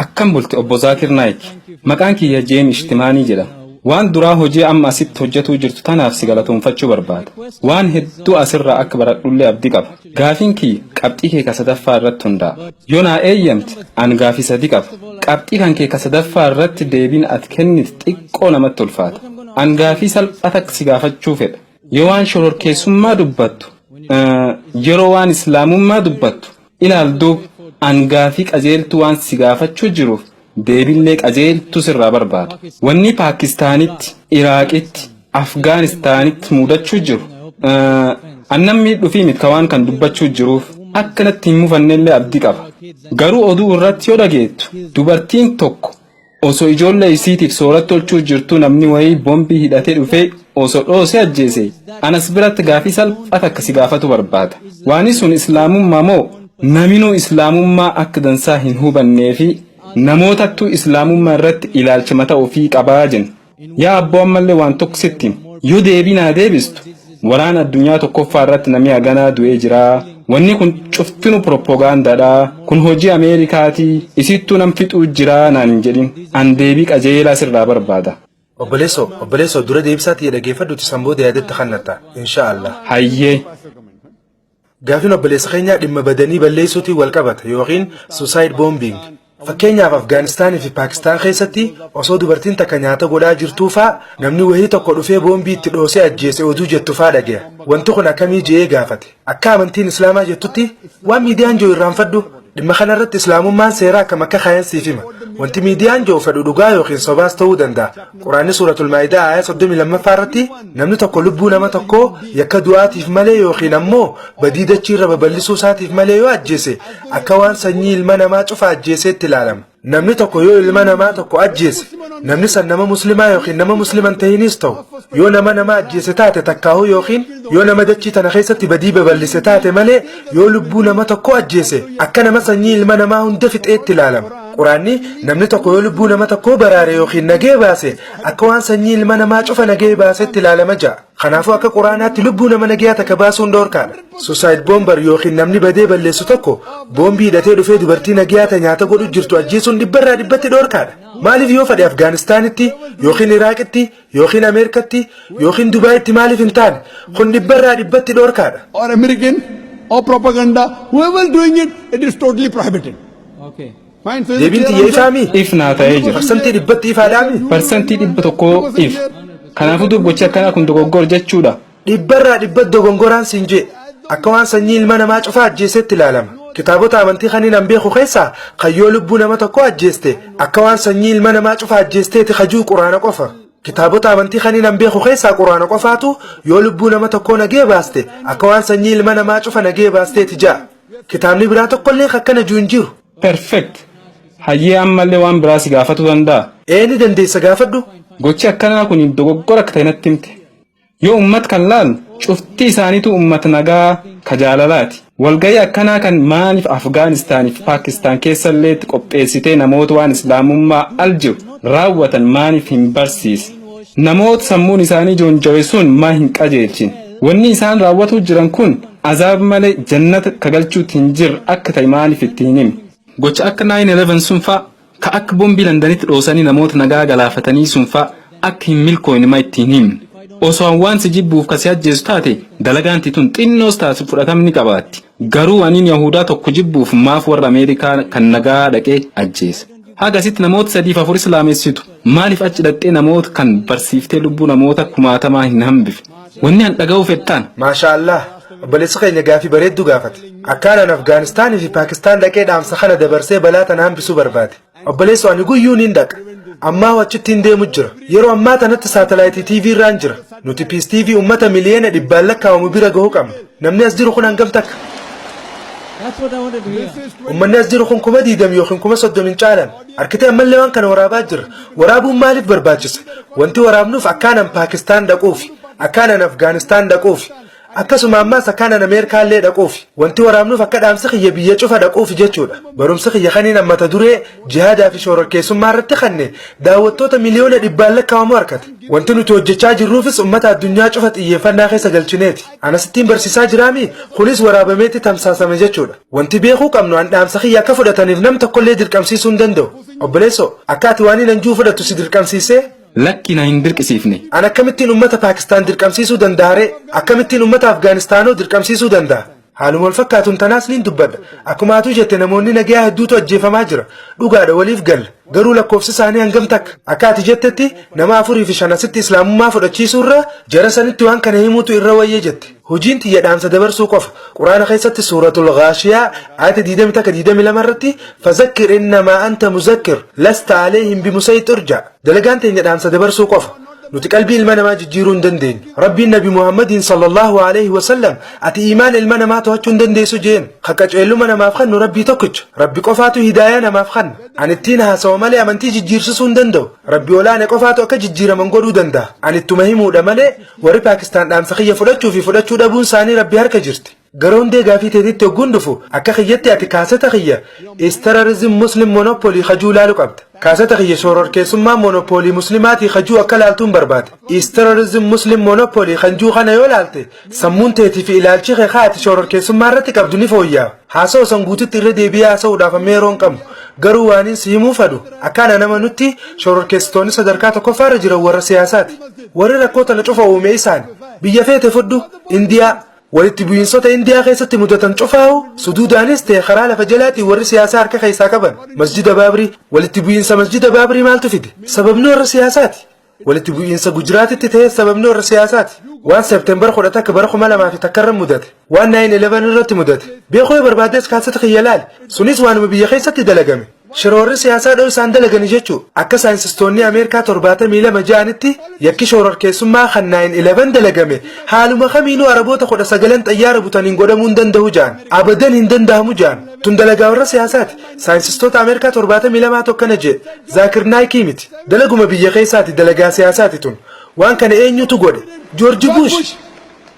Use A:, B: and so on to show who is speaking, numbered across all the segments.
A: Akkam bulte obbo Zaakir Naayik? Maqaan kiyya Jeem Ishtimaanii jedhama. Waan duraa hojii amma asitti hojjatuu jirtu tanaaf si galatoomfachuu barbaada. Waan hedduu asirraa akka baradhullee abdi qaba. Gaafiin kiyya qabxii kee ka sadaffaa irratti hundaa'a. Yoo naa eeyyamte an gaafii sadi qaba. Qabxii kan kee ka sadaffaa irratti deebiin ati kennite xiqqoo namatti ulfaata. An gaafii salphaa takka si gaafachuu fedha. Yoo waan shororkeessummaa dubbattu, yeroo waan islaamummaa dubbattu ilaal duub an gaafii qajeeltuu waan si gaafachuu jiruuf deebillee qajeeltuu sirraa barbaada. Wannii Paakistaanitti, Iraaqitti, Afgaanistaanitti muudachuu jiru an nam miidhuufii mit ka waan kan dubbachuu jiruuf akka natti hin mufannellee abdii qaba. Garuu oduu irratti yoo dhageettu dubartiin tokko Oso ijolle isitif sorat tolchu jirtu namni wayi bombi hidhate dhufe oso dhoose ajjese an as birat gafi salpha takka si gafatu barbada wani sun islamumma mo naminu islamumma akka dansa hin hubannefi namotattu islamumma irrat ilalcha mata ofi qaba jenna Yaa abboo ammallee waan tokko sitti hima. Yoo deebii naa deebistu waraana addunyaa tokkoffaa irratti namni haganaa du'ee jira. Wanni kun cuftinu piroppogaandaadha. Kun hojii Ameerikaati. Isittuu nam fixuu jira naan hin jedhin. An deebii qajeelaa sirraa barbaada. Obboleesso, obboleesso
B: dura deebisaa tiyya dhageeffadhuuti san booda yaadatti kannatta. Inshaa Allah. Hayyee. Gaafin obboleessa keenyaa dhimma badanii balleessuutiin wal qabata yookiin suicide bombing. Fakkeenyaaf Afgaanistaanii fi Paakistaan keessatti osoo dubartiin takka nyaata godhaa jirtuu faa namni wahii tokko dhufee boombii itti dhoosee ajjeese oduu jettu faa dhagaya. Wanti kun akkamii je'ee gaafate. Akka amantiin Islaamaa jettutti waan miidiyaan je'u irraanfadhu. Dhimma kana irratti Islaamummaan seera akkam akka kaayan siif hima. Wanti miidiyaan jiru fedhu dhugaa yookiin sobaas ta'uu danda'a. Quraanni suuratul Maa'idaa aaya 32ffaa irratti namni tokko lubbuu nama tokkoo yakka du'aatiif malee yookiin ammoo badii dachii irra babal'isuu isaatiif malee yoo ajjeese akka waan sanyii ilma namaa cufa ajjeeseetti ilaalama. Namni tokko yoo ilma namaa tokko ajjeese namni san nama muslimaa yookiin nama musliman ta'iniis ta'u yoo nama nama ajjeese taate takkaahu yookiin yoo nama dachii tana keessatti badii babal'ise taate malee yoo lubbuu nama tokko ajjeese akka nama sanyii ilma namaa hunda fixeetti ilaalama. Quraanni namni tokko yoo lubbuu nama tokkoo baraare yookiin nagee baase akka waan sanyii ilma namaa cufa nagee baasetti ilaalama ja'a. Kanaafuu akka quraanaatti lubbuu nama nagayaa takka baasuun dhoorkaadha. Suicide bomber yookiin namni badee balleessu tokko boombii hidhatee dhufee dubartii nagayaa ta nyaata godhu jirtu ajjeesuun dhibbarraa dhibbatti dhoorkaadha. Maaliif yoo fedhe Afgaanistaanitti yookiin Iraaqitti yookiin Ameerikatti yookiin Dubaayitti maaliif hin taane kun dhibbarraa dhibbatti dhoorkaadha. or American
C: or propaganda, whoever doing it, it is totally prohibited. Okay.
A: Deebiin tiyya
B: ifaa mii? if naa ta'ee jira. Parsantii
A: dhibbatti ifaadhaa
B: mii? Parsantii dhibba tokkoo
A: if. Kanaafuu duub gochi akkanaa kun dogoggora jechuudha. Dhibbarraa dhibbatti
B: dogongoraan siin je'e. Akka waan sanyii ilma namaa cufaa ajjeesetti ilaalama. Kitaabota amantii kaniin an beeku keessaa kan yoo lubbuu nama tokkoo ajjeeste akka waan sanyii ilma namaa cufaa ajjeesteeti ka ji'u quraana qofa. Kitaabota amantii kaniin an beeku keessaa quraana qofaatu yoo lubbuu nama tokkoo nagee baaste akka waan sanyii ilma namaa cufa nagee baasteeti ja'a. Kitaabni biraa tokkollee ka akkana je'u hin jiru. Perfect.
A: Hayyee ammallee waan biraa si gaafatuu danda'a? Ee ni dandeessa
B: gaafadhu. Gochi akkanaa
A: kun dogoggora akka ta'e natti himte. Yoo ummat kan laalu cufti isaaniitu ummat nagaa ka jaalalaati. Walgahii akkanaa kan maaliif Afgaanistaan fi Paakistaan keessalleetti qopheessitee namoota waan Islaamummaa al jiru raawwatan maaliif hin barsiisne? Namoota sammuun isaanii joonjawe sun maa hin qajeelchine? Wanni isaan raawwatuu jiran kun azaab malee jannata ka galchuutti hin jirre akka ta'e maaliif itti hin himne? Gocha akka 9-11 sun faa, ka akka bombii Landanitti dhoosanii namoota nagaya galaafatanii sun faa akka hin milkooyne ma itti hin himne? Osoo an waan si jibbuuf ka si ajjeesu taate, dalagaan tee tun xinnoos taatu fudhatam ni qabaatti. Garuu aniin Yahuudaa tokko jibbuuf maaf warra Ameerikaa kan nagaa dhaqee ajjeesa? Haga asitti namoota sadiif afur Islaamessitu maaliif achi dhaqxee namoota kan barsiiftee lubbuu namoota kumaatamaa hin hambifne? Wanni an dhaga'uu fedhtaan? Maashaa Allaah
B: obboleessi keenya gaafii bareedduu gaafate. Akkaan an Afgaanistaanii fi Paakistaan dhaqee dhaamsa kana dabarsee balaa tana hambisuu barbaade. Obboleessoo ani guyyuu niin dhaqa. Ammaa wachittiin deemu jira. Yeroo ammaa tanatti saatalaayitii TV irraan jira. Nuti Peace TV ummata miliyeena dhibbaan lakkaa'amu bira gahu qabna. Namni as jiru kun hangam takka? That's what I wanted to hear. Ummanni as jiru kun kuma diidam yookiin kuma soddom hin caalan. Arkitee ammallee waan kana waraabaa jirra. Waraabuun maaliif barbaachise? Wanti waraabnuuf akkaanan Paakistaan dhaquufi. Akkaanan Afgaanistaan dhaquufi. Akkasuma ammaas akkaan an Ameerikaa illee dhaquufi. Wanti waraabnuuf akka dhaamsi kiyya biyya cufa dhaquufi jechuudha. Barumsi kiyya kaniin an mata duree Jihaadaa fi Shororkeessummaa irratti kanne daawwattoota miliyoona dhibbaan lakkaa'amu harkate. Wanti nuti hojjechaa jirruufis ummata addunyaa cufa xiyyeeffannaa keessa galchineeti. An asittiin barsiisaa jiraami? Kunis waraabameeti tamsaasame jechuudha. Wanti beekuu qabnu an dhaamsa kiyya akka fudhataniif nam tokkollee dirqamsiisuu hin danda'u. Obboleessoo, akka ati waaniin an ji'u fudhattu si dirqamsiisee? Lakki na hin
A: dirqisiifne. An akkamittiin ummata
B: Paakistaan dirqamsiisuu danda'a ree? Akkamittiin ummata Afgaanistaanoo dirqamsiisuu danda'a? Haaluma wal fakkaatuun tanaas niin dubbadha. Akkuma atuu jette namoonni nagayaa hedduutu ajjeefamaa jira. Dhugaadha waliif galla. Garuu lakkoofsi isaanii hangam takka? Akka ati jettetti nama afurii fi shan asitti Islaamummaa fudhachiisuurra jara sanitti waan kana himuutu irra wayya jette. Hojiin tiyya dhaamsa dabarsuu qofa. Qur'aana keessatti suuratul Ghaashiyaa aayata 20 takka 22 irratti fazakkir innamaa anta muzakkir lasta aleehim bimusayxir ja. Dalagaan teenya dhaamsa dabarsuu qofa. Nuti qalbii ilma namaa jijjiiruu hin dandeenyu. Rabbiin Nabi Muhammadiin sallallahu alaihi wasallam ati iimaana ilma namaa to'achuu hin dandeessu jeen. Ka qaceelluma namaaf kennu Rabbii tokkicha. Rabbi qofaatu hidaayaa namaaf kenna. Ani ittiin haasawa malee amantii jijjiirsisuu hin danda'u. Rabbi olaane qofaatu akka jijjiiraman godhuu danda'a. Ani ittuma himuudha malee Warri Paakistaan dhaamsa kiyya fudhachuu fi fudhachuu dhabuun isaanii Rabbi harka jirti. Gara hundee gaafii teetitti hogguun dhufu akka kiyyatti ati kaaseta kiyya Is Terrorism Muslim Monopoly kajuu laalu qabda. Kaaseta kiyya Shoororkeessummaa Monopoolii Muslimaatii kajuu akka laaltuun barbaada. Is Terrorism Muslim Monopoly kan juu kana yoo laalte sammuun teetii fi ilaalchi kee kaa ati shoororkeessummaa irratti qabdu ni fooyyaa'a. Haasa'u san guutitti irra deebi'ee haasa'uudhaaf amma yeroo hin qabu. Garuu waaniin si himuu fadhu akka ana nama nutti shoororkeessitoonni sadarkaa tokkoffaa irra jiran warra siyaasaati. Warri rakkoo tana cufa uume isaan. Biyya feete fudhu, Indiyaa. Walitti bu'iinsota Indiyaa keessatti mudatan cufaahu suduudaanis ta'e karaa lafa jalaatiin warri siyaasaa harka keessaa qaban. Masjida Baabrii. Walitti bu'iinsa Masjida Baabrii maaltu fide? Sababni warra siyaasaati. Walitti bu'iinsa Gujiraatitti ta'es sababni warra siyaasaati. Waan September 11 bara 2000 fi takka irra mudate. Waan 9/11 irratti mudate beekuu yoo barbaaddes kaasseta kiyya ilaali. Sunis waanuma biyya keessatti dalagame. Shira warri siyaasaa dhoysaan dalagani jechuu. Akka saayinsistoonnii Ameerikaa 72 ja'anitti yakki shoorarkeessummaa kan 9/11 dalagame haaluma kamiinuu Araboota 19n xayyaara butaniin godhamuu hin dandahu ja'an. Abadan hin dandahamu ja'an. Tun dalagaa warra siyaasaati. Saayinsistoota Ameerikaa 72 tu akkana je'e. Zaakir Naayikii miti. Dalaguma biyya keessaati dalagaa siyaasaati tun. Waan kana eenyutu godhe? Joorji Buush!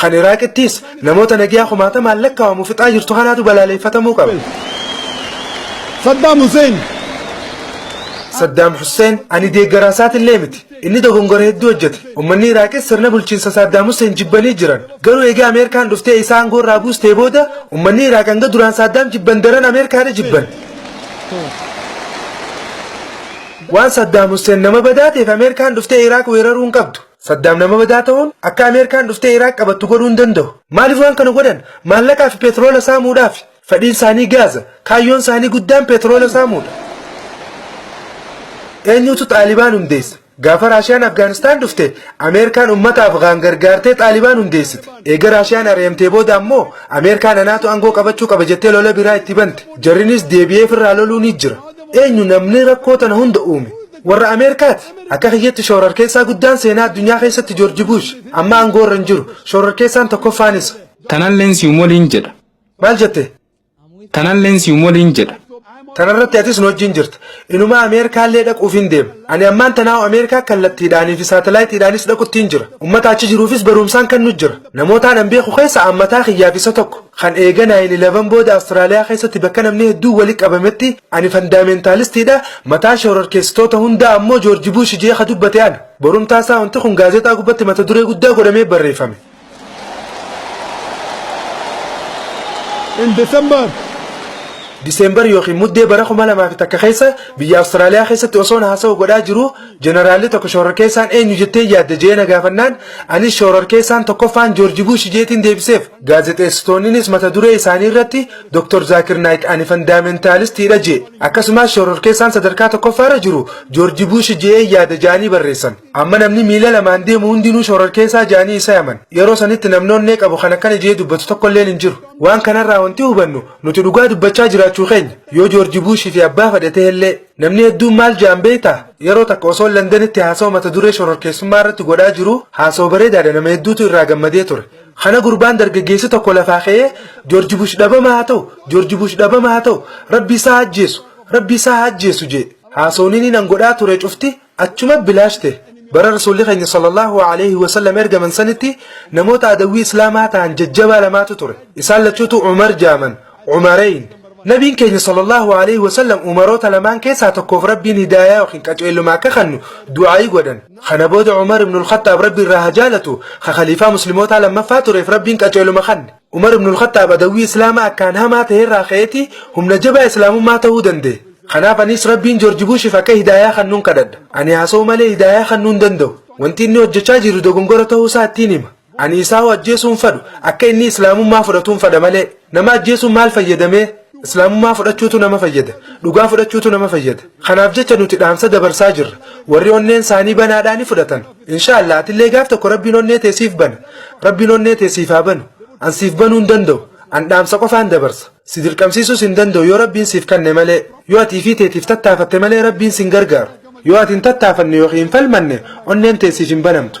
B: Kan Iraaqittiis namoota nagyaa kumaatamaan lakkaa'amu fixaa jirtu kanaatu balaaleeffatamuu qaba. Saddaam Huseen. Saddaam Huseen ani deeggaraa isaatillee miti. Inni dogongora hedduu hojjete. Uummanni Iraaqis sirna bulchiinsa Saddaam Huseen jibbanii jiran. Garuu egaa Ameerikaan dhuftee isaa aangoo irraa buustee booda uummanni Iraaq hanga duraan Saddaam jibban daran Ameerikaadha jibban. Waan Saddaam Huseen nama badaa ta'eef Ameerikaan dhuftee Iraaq weeraruu hin qabdu. Saddaam nama badaa ta'uun akka Ameerikaan dhuftee Iraaq qabattu godhuu hin danda'u. Maaliif waan kana godhan? Maallaqaa fi peetiroola saamuudhaafi. Fedhiin isaanii gaaza. Kaayyoon isaanii guddaan peetiroola saamuudha. Eenyutu Xaalibaan hundeesse? Gaafa Raashiyaan Afgaanistaan dhufte, Ameerikaan uummata Afgaan gargaartee Xaalibaan hundeessite. Eega Raashiyaan ari'amtee booda ammoo Ameerikaan anaatu aangoo qabachuu qaba jettee lola biraa itti bante. Jarrinis deebi'ee firraa loluu ni jira. Eenyu namni rakkoo tana hunda uume? Warra Ameerikaati. Akka kiyyatti shoorarkeessaa guddaan seenaa addunyaa keessatti Joorji Buush. Amma aangoo irra hin jiru. Shoorarkeessaan tokkoffaan isa. Tanalleen si'um
A: waliin jedha. Maal jette?
B: Tanalleen
A: si'um waliin jedha. Tanarratti atis
B: nu wajjin jirta. Inumaa Ameerikaallee dhaquuf hin deema. Ani ammaan tanaa'u Ameerikaa kallattiidhaanii fi saatalaayitiidhaanis dhaquttiin jira. Ummata achi jiruufis barumsaan kan nu jira. Namoota anan beeku keessa an mataa kiyyaaf isa tokko. Kan eega 9/11 booda Australia keessatti bakka namni hedduun wali qabametti ani fandaamentaalistiidha, mataa shororkeessitoota hundaa ammoo George Bush je'ee ka dubbate ana. Borumtaa isaa wanti kun gaazexaa gubbatti mata duree guddaa godhamee barreeffame.
C: In December,
B: December ykn Muddee bara 2001 keessa biyya Australia keessatti osoon haasawa godhaa jiruu, Jeneraalli tokko shoorarkeessaan eenyu jettee yaadda jee na gaafannaan anis shoorarkeessaan tokkoffaan Joorji Buushi jeetiin deebiseef. Gaazexeessitoonninis mata duree isaanii irratti Dr. Zaakir Naayik ani fandaamentaalistiidha jee. Akkasumaas shoorarkeessaan sadarkaa tokkoffaarra jiru Joorji Buushi je'ee yaada ja'anii barreessan. Amma namni miila lamaan deemu hundinuu shoorarkeessaa ja'anii isa yaman. Yeroo sanitti namni onnee qabu kan akkana jee dubbatu tokkolleen hin jiru. Waan kanarraa wanti hubannu nuti dhugaa dubbachaa jiraachuu keenya. Yoo Joorji Buushi fi abbaa fadhe ta'ellee. Namni hedduun maal ja'an beekta? Yeroo takka osoo Landanitti haasawa mata duree shororkeessummaa irratti godhaa jiru haasawa bareedaadha nama hedduutu irraa gammadee ture. Kana gurbaan dargaggeessi tokko lafaa ka'ee Joorji Bush dhabama haa ta'u, Joorji Bush dhabama haa ta'u, rabbi isaa haa ajjeesu, rabbi isaa haa ajjeesu jee. Haasawni inni nan godhaa ture cufti Achuma bilaash ta'e. Bara Rasuulli keenya sallallahu alayhi wa sallam ergaman sanitti namoota adawwii Islaamaa ta'an jajjabaa lamaatu ture. Isaan lachuutu Umar jaaman, Umarayn. Nabiin keenya sallallahu alayhi wa sallam Umaroota lamaan keessaa tokkoof Rabbiin hidaayaa yookiin qaceelluma akka kannu du'aa'ii godhan. Kana booda Umar ibn al-Khattaab Rabbi irraa haa jaalatu, ka khaliifaa Muslimootaa lammaffaa tureef Rabbiin qaceeluma kanne. Umar ibn al-Khattaab adawwii Islaamaa akkaan hamaa tahe irraa ka'eeti humna jabaa Islaamummaa tahuu danda'e. Kanaaf anis Rabbiin Joorji Buushiif akka hidaayaa kannuun kadhadha. Ani haasa'uu malee hidaayaa kannuu hin danda'u. Wanti inni hojjachaa jiru dogongora tahuu isaa ittiin hima. Ani isaahuu ajjeesuu hin fadhu. Akka inni Islaamummaa fudhatuun fadha malee. Nama ajjeesuun maal fayyada mee? Islaamummaa fudhachuutu nama fayyada. Dhugaa fudhachuutu nama fayyada. Kanaaf jecha nuti dhaamsa dabarsaa jirra. Warri onneen saanii banaadhaa ni fudhatan. Inshaallah atillee gaaf tokko rabbiin onnee tee siif bana. Rabbiin onnee tee siif haa banu. An siif banuu hin danda'u. An dhaamsa qofaan dabarsa. Si dirqamsiisuus hin danda'u yoo rabbiin siif kanne malee. Yoo ati ifii teetiif tattaafatte malee rabbiin sin gargaaru. Yoo ati hin tattaafanne yookiin hin falmanne onneen tee siif hin banamtu.